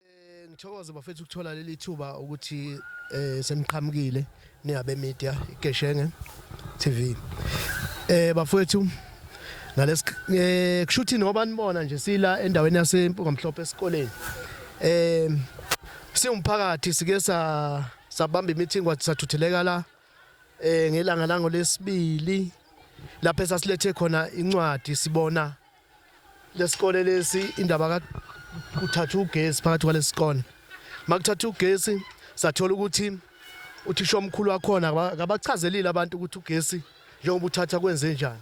Eh ngithokoze bafethu ukuthola leli thuba ukuthi eh semqhamukile ningabe media igeshenge TV. Eh bafethu ngalesi eh kushuthi noba nibona nje sila endaweni yasempungamhlophe esikoleni. Eh siwumphakathi sike sa sabamba imeeting kwathi sathutheleka la eh ngelanga lango lesibili lapho esasilethe khona incwadi sibona lesikole lesi indaba ka kuthatha ugesi phakathi kwalesikole makuthatha ugesi sathola ukuthi uthisha omkhulu wakhona akabachazelile abantu ukuthi ugesi njengoba uthatha kwenze njani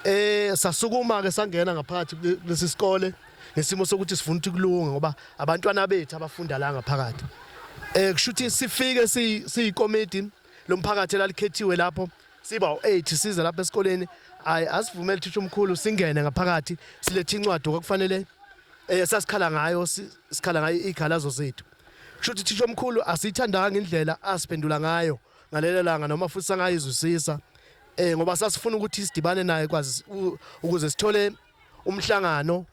eh sasukuma ke sangena ngaphakathi kulesi sikole ngesimo sokuthi sifuna ukuthi kulunge ngoba abantwana bethu abafunda la ngaphakathi eh kushuthi sifike siyikomiti lomphakathi elalikhethiwe lapho siba u8 size lapha esikoleni ayi asivumele uthisha omkhulu singene ngaphakathi silethe incwadi okufanele eh sasikhala ngayo sikhala ngayo ikhalazo zethu kusho ukuthi uthisha omkhulu asiyithandanga indlela asiphendula ngayo ngalelo langa noma futhi sangayizwisisa eh ngoba sasifuna ukuthi sidibane naye kwazi ukuze sithole umhlangano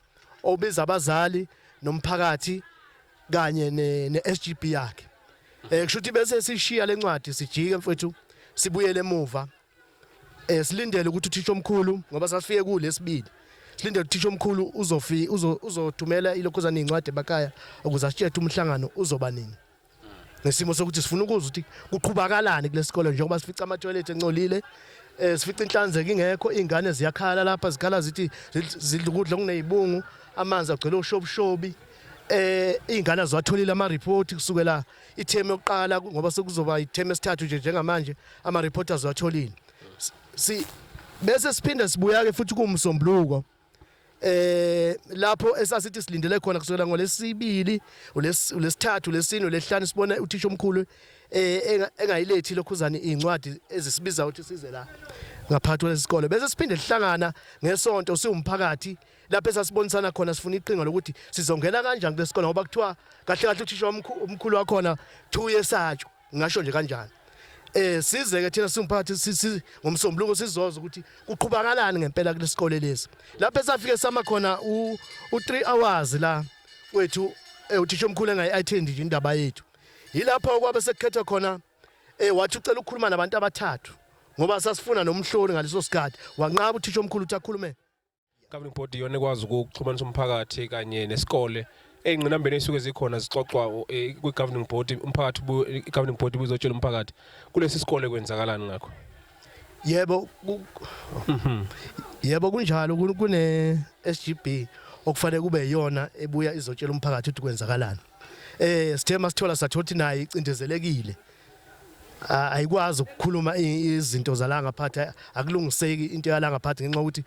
obiza abazali nomphakathi kanye ne, ne SGB yakhe eh kusho ukuthi bese sishiya lencwadi sijike mfethu sibuyele emuva eh silindele ukuthi uthisha omkhulu ngoba sasifike kulesibili silindele uthisha omkhulu uzofi uzothumela ilokhuzana incwadi emakaya ukuze asitshethe umhlangano uzoba nini nesimo sokuthi sifuna ukuzwa ukuthi kuqhubakalani kulesikole njengoba sifica ama toilet encolile eh sifica inhlanzeko ingekho ingane ziyakhala lapha zikhala zithi zidla ukudla kunezibungu amanzi agcwele ushobushobi eh izingane azwatholile ama report kusukela itheme yokuqala ngoba sekuzoba itheme esithathu nje njengamanje ama report azwatholile si bese siphinda sibuya ke futhi kumsombuluko eh lapho esasithi silindele khona kusukela ngolesibili ulesithathu lesine lehlanu sibona uthisha omkhulu eh engayilethi lokhuzani incwadi ezisibiza ukuthi size la ngaphathwa lesikole bese siphinde sihlangana ngesonto siwumphakathi lapho esasibonisana khona sifuna iqhinga lokuthi sizongena kanjani kule sikole ngoba kuthiwa kahle kahle uthisha omkhulu wakhona two years atsho ngingasho nje kanjani eh size ke thina siwumphakathi ngomsombuluko sizoza ukuthi kuqhubakalani ngempela kule sikole lesi lapho esafike sama khona u 3 hours la wethu eh, uthisha omkhulu engayi-attend nje indaba yethu yilapho kwabe sekukhethwa khona eh wathi ucela ukukhuluma nabantu abathathu ngoba sasifuna nomhloli ngaleso sikhathi wanqaba uthisha omkhulu ukuthi akhulume governing body iyona ekwazi ukuxhumanisa umphakathi kanye nesikole ey'ngqinambeni ey'suke zikhona zixoxwa eh, kwi-governing body umphakathi i-governing body buzotshela umphakathi kulesi sikole kwenzakalani ngakho yebo mhm. yebo kunjalo kune-s g b okufanele kube yiyona ebuya izotshela umphakathi ukuthi kwenzakalani eh sithe masithola sathothi naye icindezelekile ayikwazi ukukhuluma izinto zalanga phathi akulungiseki into yalanga phathi ngenxa ukuthi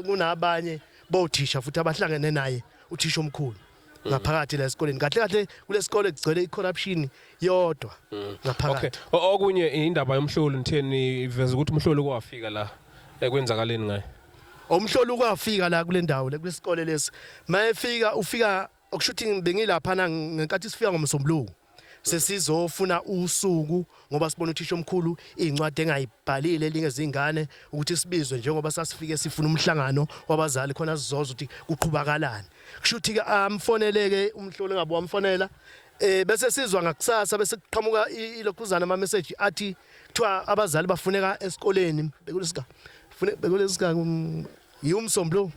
kunabanye bothisha futhi abahlangene naye uthisha omkhulu mm. ngaphakathi la esikoleni kahle kahle kulesikole kugcwele icorruption yodwa mm. ngaphakathi okunye indaba yomhloli ngitheni iveza ukuthi umhloli kwafika la ekwenzakaleni ngaye umhloli kwafika la kulendawo le kulesikole lesi mayefika ufika okusho ukuthi bengilaphana ngenkathi sifika ngomsombuluko sesizofuna usuku ngoba sibona uthisha omkhulu incwadi engayibhalile elinye zingane ukuthi sibizwe njengoba sasifike sifuna umhlangano wabazali khona sizoza ukuthi kuqhubakalani kusho ukuthi ke amfoneleke umhlolo ngabo wamfonela eh bese sizwa ngakusasa bese kuqhamuka ilokhuzana ama message athi kuthiwa abazali bafuneka esikoleni bekulesika bekulesika um, yiwumsombuluko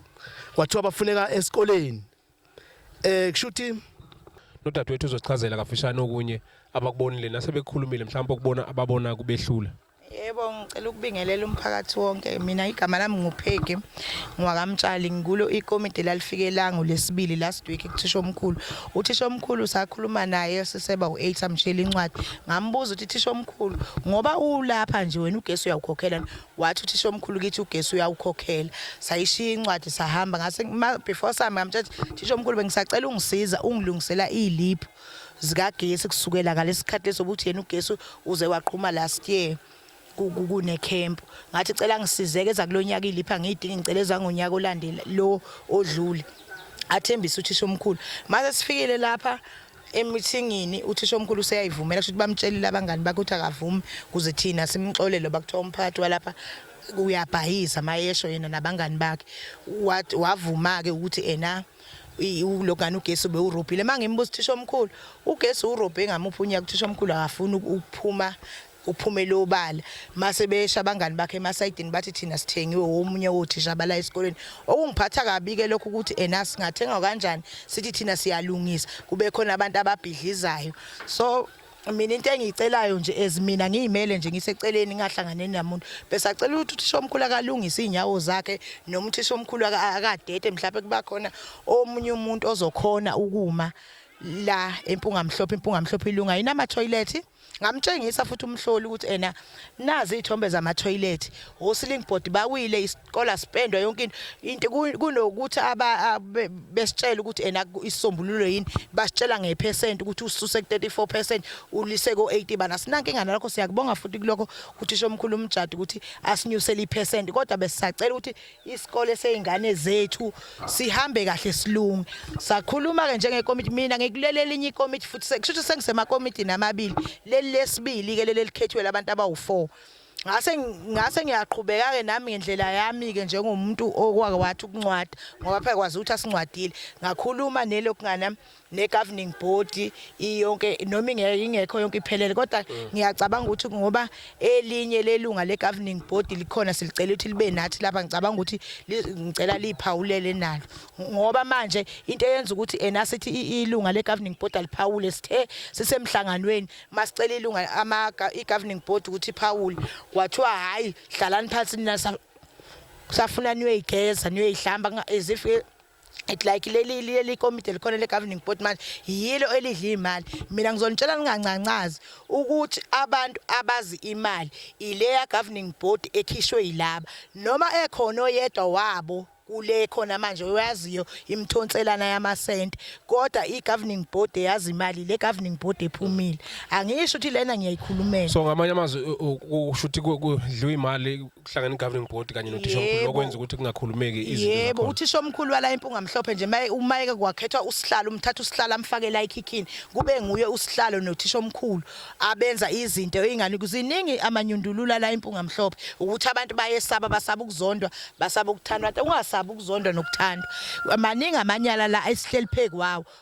kwathiwa bafuneka esikoleni eh kushuthi nodadewethu uzochazela kafishane okunye abakubonile nasebekukhulumile mhlawumbe ukubona ababona kubehlula Yebo ngicela ukubingelela umphakathi wonke mina igama lami ngupheke ngwakamtshali ngikulo ikomiti lalifike langu lesibili last week kuthisha omkhulu uthisha omkhulu sakhuluma naye siseba u8 amshela incwadi ngambuza ukuthi thisha omkhulu ngoba ulapha nje wena ugesi uyawukhokhela wathi uthisha omkhulu kithi ugesi uyawukhokhela sayishiya incwadi sahamba ngase before sami ngamthatha thisha omkhulu bengisacela ungisiza ungilungisela iliphu zikagesi kusukela ngalesikhathi leso ukuthi yena ugesi uze waqhuma last year kune camp ngathi cela ngisizeke zakulonyaka ilipha ngiyidinga ngicela ezangonyaka olandela lo odlule athembisa uthisha omkhulu mase sifikile lapha emithingini uthisha omkhulu useyayivumela kusho ukuthi bamtshelile abangani bakhe ukuthi akavumi kuze thina simxolele bakuthiwa umphathi walapha uyabhayiza mayesho yena nabangani bakhe wavuma-ke ukuthi ena ulogana ugesi bewurobhile uma ngimbuza uthisha omkhulu ugesi urobhe ngamuphi unyaka uthisha omkhulu akafuni ukuphuma kuphumele obala mase besha abangani bakhe emasayidini bathi thina sithengiwe womunye wothisha abala esikoleni okungiphatha kabi ke lokho ukuthi ena singathenga kanjani sithi thina siyalungisa kube khona abantu ababhidlizayo so mina into engiyicelayo nje as mina ngiyimele nje ngiseceleni ngahlangane namuntu besacela ukuthi uthisha omkhulu akalungise izinyawo zakhe noma uthisha omkhulu akadede mhlawumbe kuba khona omunye umuntu ozokhona ukuma la empunga mhlophe impunga mhlophe ilunga yinama toilet Ngamtshengisa futhi umhloli ukuthi ena nazi izithombe zama toilet, hosling board bawile iskola spendwa yonke into kunokuthi aba besitshela ukuthi ena isisombululo yini basitshela ngepercent ukuthi ususe ku 34% ulise ko 80 bana sinanke ingane lakho siyakubonga futhi kuloko uthisha omkhulu umjadi ukuthi asinyusele ipercent kodwa besisacela ukuthi isikole seyingane zethu sihambe kahle silunge sakhuluma ke njengekomiti mina ngikulela elinye ikomiti futhi sekusho sengisemakomiti namabili leli lesibili ke leli likhethwe labantu abawu4 ngase ngase ngiyaqhubeka ke nami ngendlela yami ke njengomuntu okwake wathi ukuncwada ngoba phekwazi ukuthi asincwadile ngakhuluma nelokungana ne-governing body iyonke noma ingekho yonke iphelele kodwa mm. ngiyacabanga ukuthi ngoba elinye lelunga le-governing body likhona silicela ukuthi libe nathi lapha ngicabanga ukuthi ngicela liphawulele nalo ngoba manje into eyenza ukuthi ena sithi ilunga le-governing body aliphawule sithe sisemhlanganweni masicela ilunga ama i-governing body ukuthi iphawule kwathiwa hhayi hlalani phansi nina safuna niyoyigeza niyoyihlamba as if it like leli leli komiti elikhona le governing board manje yilo elidla imali mina ngizonitshela ningancancazi ukuthi abantu abazi imali ileya governing board ekhishwe yilaba noma ekhona oyedwa wabo kule khona manje oyaziyo imthonselana yamasente kodwa i-governing board eyazi imali le governing board ephumile angisho ukuthi lena ngiyayikhulumela so ngamanye amazwi usho ukuthi kudliwa imali kuhlangana i-governing board kanye nothishamkhulu Yebo. okwenza ukuthi kungakhulumeki izinto yebo zakhona. uthisha omkhulu wala impunga mhlophe nje maye- uma eke kwakhethwa usihlalo umthatha usihlalo amfake la ekhikhini kube nguye usihlalo nothisha omkhulu abenza izinto ingani kuziningi amanyundulula la impunga mhlophe ukuthi abantu bayesaba basaba ukuzondwa basaba ukuthandwa ungasaba ukuzondwa nokuthandwa maningi amanyala la esihleli pheku wawo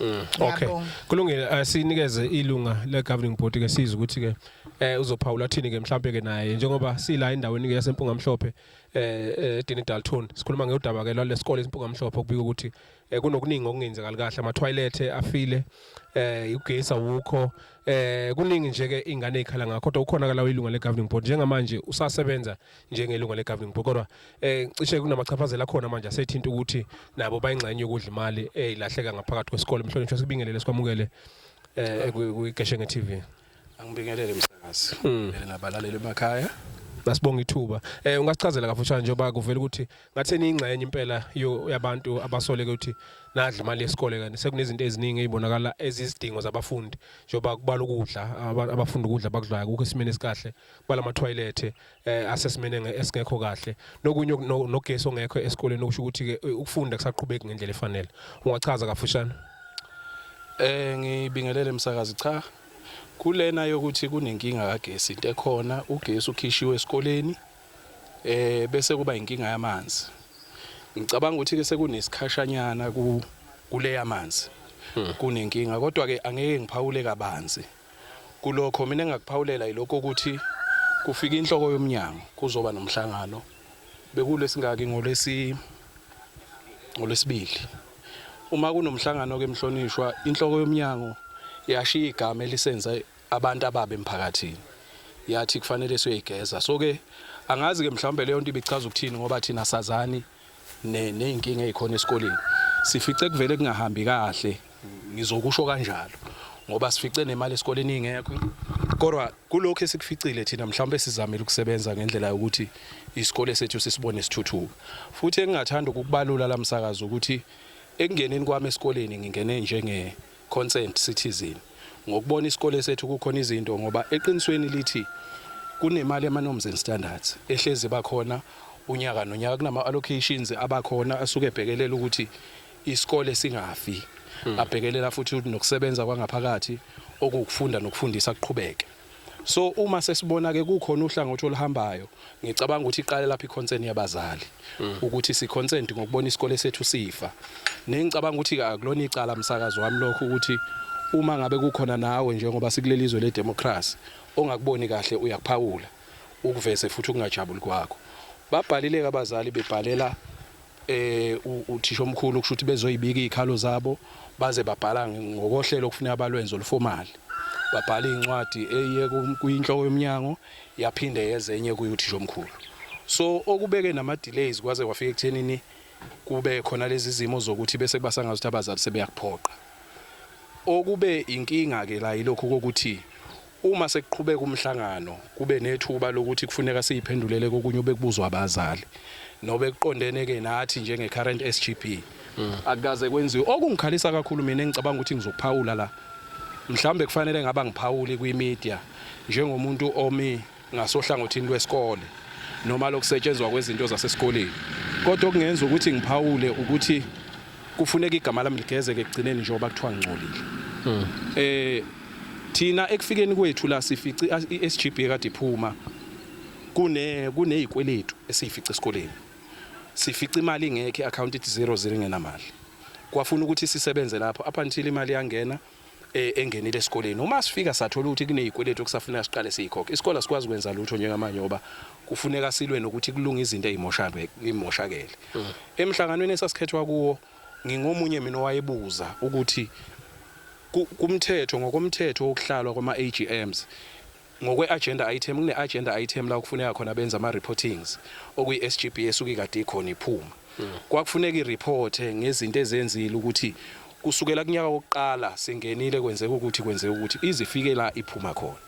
Mm, okay. Kulungile eh, sinikeze ilunga le governing board ke siza ukuthi ke eh uzophawula thini ke mhlambe ke naye njengoba sila endaweni ke yasempunga mhlophe eh, eh Dini Dalton sikhuluma ngeudaba ke lalesikole isimpunga mhlophe kubika ukuthi eh, kunokuningi okungenzekali kahle ama toilet afile eh ugesi awukho eh kuningi nje ke ingane ikhala ngakho kodwa ukhona ke lawo ilunga le governing board njengamanje usasebenza njengelunga le-governing board kodwa um cishe kunamachaphazela akhona manje asethinta ukuthi nabo bayingxenye yokudla imali eyilahleka ngaphakathi kwesikole mhlonishwa sikubingelele sikwamukele um kwiGeshenge TV angibingelele msakazi hmm. nabalaleli emakhaya nasibonga ithuba eh ungasichazela kafushane njengoba kuvela ukuthi ngathi niyingxenye impela yabantu abasoleke ukuthi nadla imali yesikole kanti sekunezinto eziningi ezibonakala ezizidingo zabafundi njengoba kubala ukudla abafundi ukudla bakudlayo kukho isimene esikahle bala mathoyilethe eh asesimene esingekho kahle nokunye nogesi ongekho esikoleni okusho ukuthi ke eh, ukufunda kusaqhubeki ngendlela efanele ungachaza kafushane eh ngibingelele msakazi cha kulena yokuthi kunenkinga kagesi into ekhona ugesi ukhishiwe esikoleni eh bese kuba inkinga yamanzi ngicabanga ukuthi ke sekunesikhashanyana ku kuleya manzi hmm. kunenkinga kodwa ke angeke ngiphawule kabanzi Kulokho mina engakuphawulela yilokho ukuthi kufike inhloko yomnyango kuzoba nomhlangano bekulesingaki ngolesi ngolesibili uma kunomhlangano ke mhlonishwa inhloko yomnyango yashiya igama elisenza abantu ababe emphakathini yathi kufanele siyoyigeza so ke angazi ke mhlawumbe leyo nto ibichaza ukuthini ngoba thina sazani nezinkinga ezikhona esikoleni sifice kuvele kungahambi kahle ngizokusho kanjalo ngoba sifice nemali esikoleni ingekho kodwa kulokho esikuficile thina mhlawumbe sizamile ukusebenza ngendlela yokuthi isikole sethu sisibone sithuthuka futhi engingathanda ukukubalula lamsakazo ukuthi ekungeneni kwami esikoleni ngingene njenge Concerned citizen ngokubona isikole sethu kukhona izinto ngoba eqinisweni lithi kunemali yama norms and standards ehlezi bakhona unyaka nonyaka kunama allocations abakhona asuke ebhekelela ukuthi isikole singafi hmm. abhekelela futhi nokusebenza kwangaphakathi okukufunda nokufundisa kuqhubeke So uma sesibona ke kukhona uhlangothi oluhambayo ngicabanga ukuthi iqale lapha iconcern yabazali mm. ukuthi si consent ngokubona isikole sethu sifa. Nengicabanga ukuthi ke akulona icala msakazo wami lokho ukuthi uma ngabe kukhona nawe njengoba sikuleli izwe ledemocracy ongakuboni kahle uyakuphawula ukuveze futhi ukungajabuli kwakho. Babhalile abazali bebhalela eh, uthishomkhulu kusho ukuthi bezoyibika izikhalo zabo baze babhala ngokohlelo okufuneka balwenze olufomali babhala incwadi eye kuyinhloko yomnyango yaphinde yezenye kuyuthisha omkhulu so okubeke nama delays kwaze kwafika ekuthenini kube khona lezi zimo zokuthi bese kubasangaza ukuthi abazali sebeyakuphoqa okube inkinga ke la yilokho kokuthi Uma sekuqhubeka umhlangano kube nethuba lokuthi kufuneka siyiphendulele kokunye obekubuzwa abazali nobekuqondene-ke nathi njenge-current SGB. Akukaze kwenziwe. Okungikhalisa kakhulu mina engicabanga ukuthi ngizokuphawula la, mhlawumbe kufanele ngabe angiphawuli kwi-media njengomuntu omi ngasohlangothini lwesikole noma lokusetshenzwa kwezinto zasesikoleni kodwa okungenza ukuthi ngiphawule ukuthi kufuneka igama lami ligezeke ekugcineni njengoba kuthiwa ngingcolile hmm. eh thina ekufikeni kwethu la sifici iSGB ekade iphuma kune kunezikweletu esifica esikoleni sifica imali ingekho iaccount ithi 00 ngenamali kwafuna ukuthi sisebenze lapho up until imali yangena e, engenile esikoleni uma sifika sathola ukuthi kunezikweletu okusafuneka siqale siyikhokhe isikole asikwazi kwenza lutho njengamanje ngoba kufuneka silwe nokuthi kulunga izinto ezimoshakele imoshakele mm. emhlanganweni esasikhethwa kuwo ngingomunye mina owayebuza ukuthi kumthetho ngokomthetho wokuhlalwa kwama-AGMs Ngokwe-agenda item, kune-agenda item la okufuneka khona benze ama-reportings, okuyi-SGB esuke ikade ikhona iphuma. Kwakufuneka i-report-e ngezinto ezenzile ukuthi kusukela kunyaka wokuqala singenile kwenzeka ukuthi, kwenzeka ukuthi, ize ifike la iphuma khona.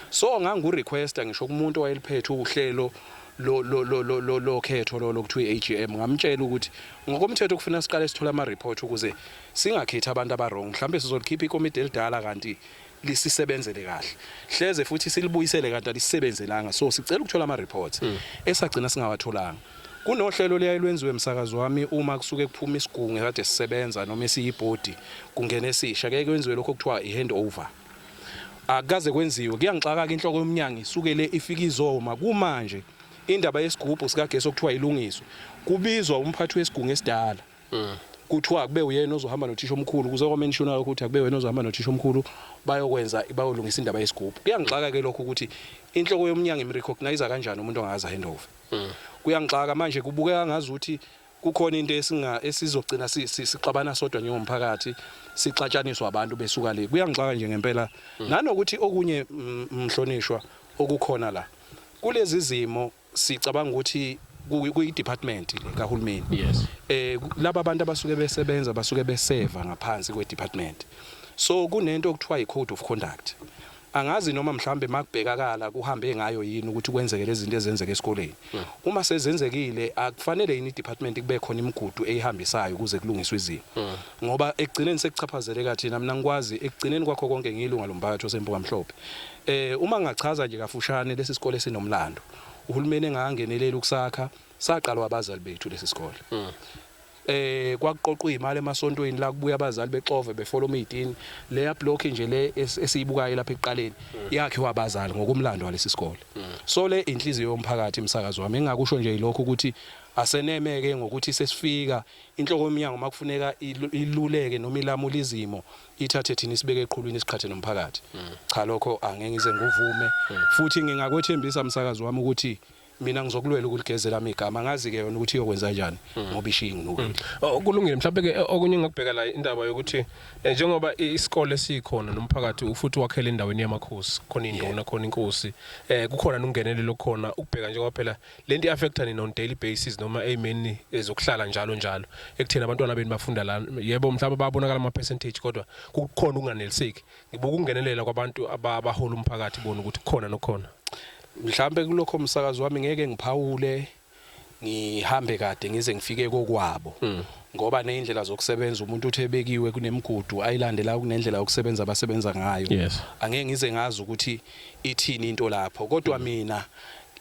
So ngangiku-request-a ngisho kumuntu owayeluphethe uhlelo lokhetho lolo okuthiwa i-AGM, ngamtshela ukuthi ngokomthetho kufuneka siqale sithole ama-report ukuze singakhethi abantu aba-wrong. Mhlawumbe sizolikhipha ikomidi elidala kanti lisisebenzele kahle hleze futhi silibuyisele kanti alisisebenzelanga so sicela ukuthola ama reports hmm. esagcina singawatholanga kunohlelo liyaye lwenziwe emsakazi wami uma kusuke kuphuma isigungu kade sisebenza noma esiyibhodi kungena esisha keke kwenziwe lokho kuthiwa i-handover akukaze kwenziwe kuyangixaka ke inhloko yomnyango isukele ifika izoma kumanje indaba yesigubhu sikagesi okuthiwa ilungiswe kubizwa umphathi wesigungu esidala Mm. kuthiwa akube uyena ozohamba nothisha omkhulu kuze kwamentionwa ukuthi akube wena ozohamba nothisha omkhulu bayokwenza bayolungisa indaba yesigubhu kuyangixaka ke lokho ukuthi inhloko yomnyango imrecognize kanjani umuntu ongazi handover mm. kuyangixaka manje kubukeka ngazi ukuthi kukhona into esinga esizogcina sixabana sodwa njengomphakathi sixatshaniswa abantu besuka le kuyangixaka nje ngempela mm. nanokuthi okunye mhlonishwa okukhona la kulezi zimo sicabanga ukuthi kuyi-department le kahulumeni yes. eh laba bantu abasuke besebenza basuke beseva ngaphansi kwe-department so kunento okuthiwa yi-code of conduct angazi noma mhlambe makubhekakala kuhambe ngayo yini ukuthi kwenzeke lezi zinto ezenzeka esikoleni hmm. uma sezenzekile akufanele yini i-department kube khona imigudu eyihambisayo ukuze kulungiswe izimo hmm. ngoba ekugcineni sekuchaphazeleka thina mina ngikwazi ekugcineni kwakho konke ngiyilunga lomphakathi osempuka mhlophe eh uma ngachaza nje kafushane lesi sikole sinomlando uhulumeni engangenelela ukusakha saqalwa abazali bethu lesi sikole hmm. eh kwakuqoqwa imali emasontweni la kubuya abazali bexove befola umidini leya block nje le esiyibukayo lapha ekuqaleni hmm. yakhiwa abazali ngokumlando walesi sikole hmm. so le inhliziyo yomphakathi imsakazo wami engakusho nje ilokho ukuthi asenemeke ngokuthi sesifika Inhloko yomnyango makufuneka iluleke noma ilamule izimo ithathe thina isibeke eqhulwini isiqhathe nomphakathi. Mm. Cha lokho angeke ngize nguvume mm. futhi ngingakwethembisa msakazi wami ukuthi mina ngizokulwela ukuligezela ami igama ngazi ke yona ukuthi iyokwenza kanjani hmm. ngoba ishingi ngoku hmm. oh, kulungile mhlawumbe ke eh, okunye ngakubheka la indaba yokuthi eh, njengoba isikole sikhona nomphakathi ufuthi wakhele endaweni yamakhosi khona induna khona inkosi eh kukhona nungenelelo khona ukubheka njengoba phela lento i-affecta nina on daily basis noma ey'meni eh, zokuhlala njalo njalo ekutheni abantwana benu bafunda la yebo mhlawumbe babonakala ama-percentage kodwa kukhona ukunganeliseki ngibuka ukungenelela kwabantu abahola umphakathi bona ukuthi kukhona nokhona mhlawumbe kulokho umsakazi wami ngeke ngiphawule ngihambe kade ngize ngifike kokwabo hmm. ngoba nezindlela zokusebenza umuntu uthi ebekiwe kunemigudu ayilandela kunendlela yokusebenza abasebenza ngayo yes. angeke ngize ngazi ukuthi ithini into lapho kodwa mina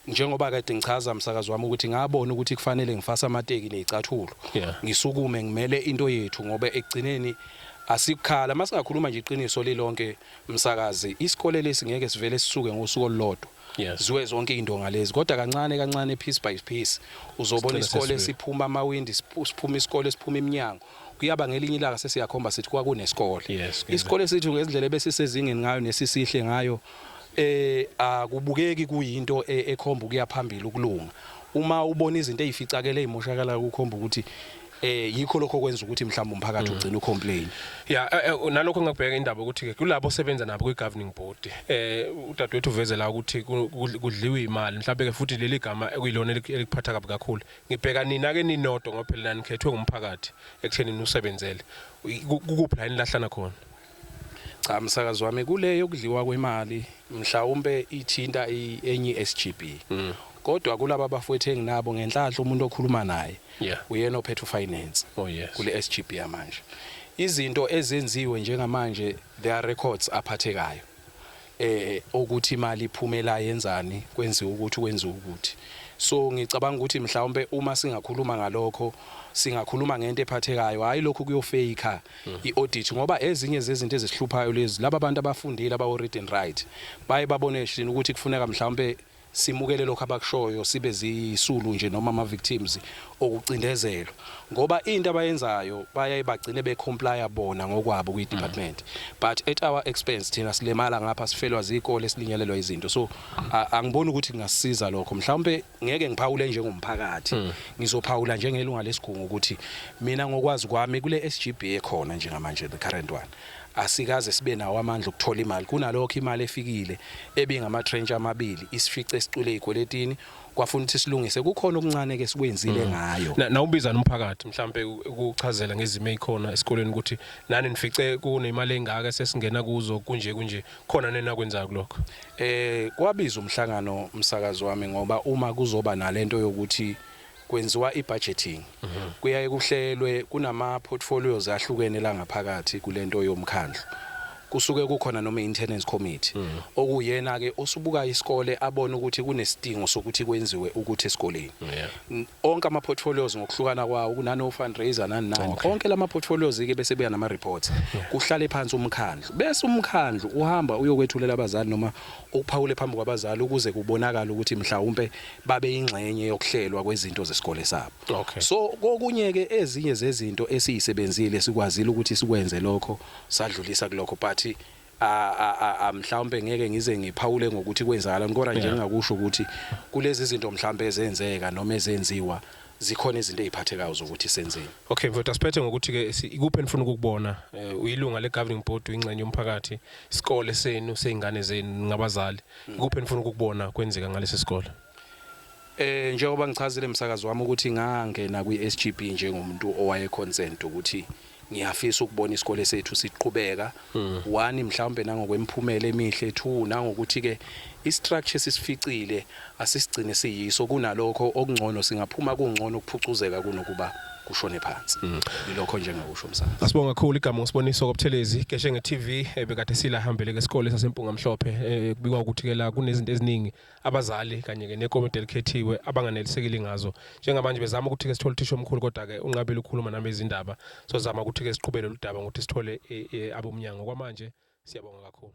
njengoba kade ngichaza msakazi wami ukuthi ngabona ukuthi kufanele ngifase amateki nezicathulo Yeah. ngisukume ngimele into yethu ngoba ekugcineni asikukhala masingakhuluma nje iqiniso lilonke msakazi isikole lesi ngeke sivele sisuke ngosuku olulodwa Yes. ziwe zonke into ngalezi kodwa kancane kancane piece by piece uzobona Sigcine isikole sesivele. siphuma amawindi siphu- siphuma isikole siphuma iminyango kuyaba ngelinye ilanga sesiyakhomba sithi kwakunesikole yes, isikole esithu ngendlela ebesisezingeni ngayo nesisihle ngayo eh akubukeki kuyinto e, ekhomba ukuya phambili ukulunga uma ubona izinto ezificakele ezimoshakala kukhomba ukuthi eh yikho lokho kwenza ukuthi mhlawumbe umphakathi mm. ugcine ucomplain yeah eh, eh, nalokho ngabheka indaba ukuthi ke kulabo sebenza nabo kwi governing board eh udadewethu uvezela ukuthi kudliwa imali mhlawumbe ke futhi leli gama ekuyilona elikuphatha kabi kakhulu Ngibheka nina ke ninodwa ngoba phela nanikhethwe ngumphakathi ekutheni nusebenzele. Kukuphi la enilahlana khona? Cha msakazi wami kule yokudliwa kwemali mhlawumbe ithinta enye SGB. Mm. Kodwa kulaba bafowethu enginabo ngenhlahla umuntu okhuluma naye yeah. uyena ophethe ufinance oh, yes. kule SGB yamanje. Izinto ezenziwe njengamanje there are records aphathekayo. eh okuthi imali iphume la yenzani kwenziwa ukuthi kwenziwa ukuthi so ngicabanga ukuthi mhlawumbe uma singakhuluma ngalokho singakhuluma ngento ephathekayo hayi lokho kuyofeyikha mm. i-audit ngoba ezinye zezinto ezihluphayo lezi laba bantu abafundile abawo-read and right baye babone shini ukuthi kufuneka mhlawumbe simukele lokho abakushoyo sibe ziyisulu nje noma ama victims okucindezelwa ngoba into abayenzayo bayaye bagcine be comply bona ngokwabo kwi department mm. but at our expense thina silemala ngapha sifelwa zikole silinyalelwa izinto so angiboni ukuthi kungasiza lokho mhlawumbe ngeke ngiphawule njengomphakathi mm. ngizophawula njengelunga lesigungu ukuthi mina ngokwazi kwami kule SGB ekhona njengamanje the current one asikaze sibe nawo amandla okuthola imali. Kunalokho imali efikile ebingamatrench amabili isifice sicwile ey'kweletini kwafuna ukuthi silungise. Kukhona okuncane-ke esikwenzile mm. ngayo. Na, nawubizana umphakathi mhlampe ukuchazela ngezimo ey'khona esikoleni ukuthi nani nifice kunemali engaka sesingena kuzo kunje kunje khona nenakwenzayo kulokho. Eh kwabiza umhlangano umsakazi wami ngoba uma kuzoba nalento yokuthi kwenziwa i-budgeting kuyaye kuhlelwe kunama-portfolios ahlukene la ngaphakathi kule nto yomkhandlu. Kusuke kukhona noMaintenance Committee okuwuyena-ke osubuka isikole abone ukuthi kunesidingo sokuthi kwenziwe ukuthi esikoleni. Onke ama-portfolios ngokuhlukana kwawo kunano-fundraiser nani nani. Onke la ma-portfolios-ke bese ebuya nama-reports kuhlale phansi umkhandlu. Bese umkhandlu uhamba uyokwethulela abazali noma ukuphawule phambi kwabazali ukuze kubonakale ukuthi mhlawumpe babe yingxenye yokuhlelwa kwezinto zesikole sabo okay. so kokunye ke ezinye zezinto esiyisebenzile sikwazile ukuthi sikwenze lokho sadlulisa kulokho but mhlawumbe ngeke ngize ngiphawule ngokuthi kwenzakala kodwa nje ngingakusho ukuthi kulezi zinto mhlawumbe ezenzeka noma ezenziwa zikhona izinto eziphathekayo zokuthi senzeni okay mfowethu asiphethe ngokuthi ke ikuphi enifuna ukukubona eh, uyilunga le governing board uyingxenye yomphakathi isikole senu sezingane zenu ngabazali Kuphi enifuna ukukubona kwenzeka ngalesi sikole? Eh njengoba ngichazile emsakazi wami ukuthi ngangena kwiSGB njengomuntu owaye consent ukuthi ngiyafisa ukubona isikole sethu siqhubeka hmm. one mhlawumbe nangokwemphumela emihle two nangokuthi ke istructure sisificile asisigcine siyiso kunalokho okungcono singaphuma kungcono ukuphucuzeka kunokuba kushone phansi mm. ilokho nje engakusho umsana asibonga kakhulu igama ngisiboniso kobuthelezi keshe nge-TV ebekade eh, sila hambele ke isikole sasempunga mhlophe eh, kubikwa ukuthi ke la kunezinto eziningi abazali kanye ke nekomiti elikhethiwe abanganelisekile ngazo njengamanje bezama ukuthi ke sithole uthisha omkhulu kodwa ke unqabile ukukhuluma nami izindaba sozama ukuthi ke siqhubele ludaba ngokuthi sithole eh, abomnyango kwamanje siyabonga kakhulu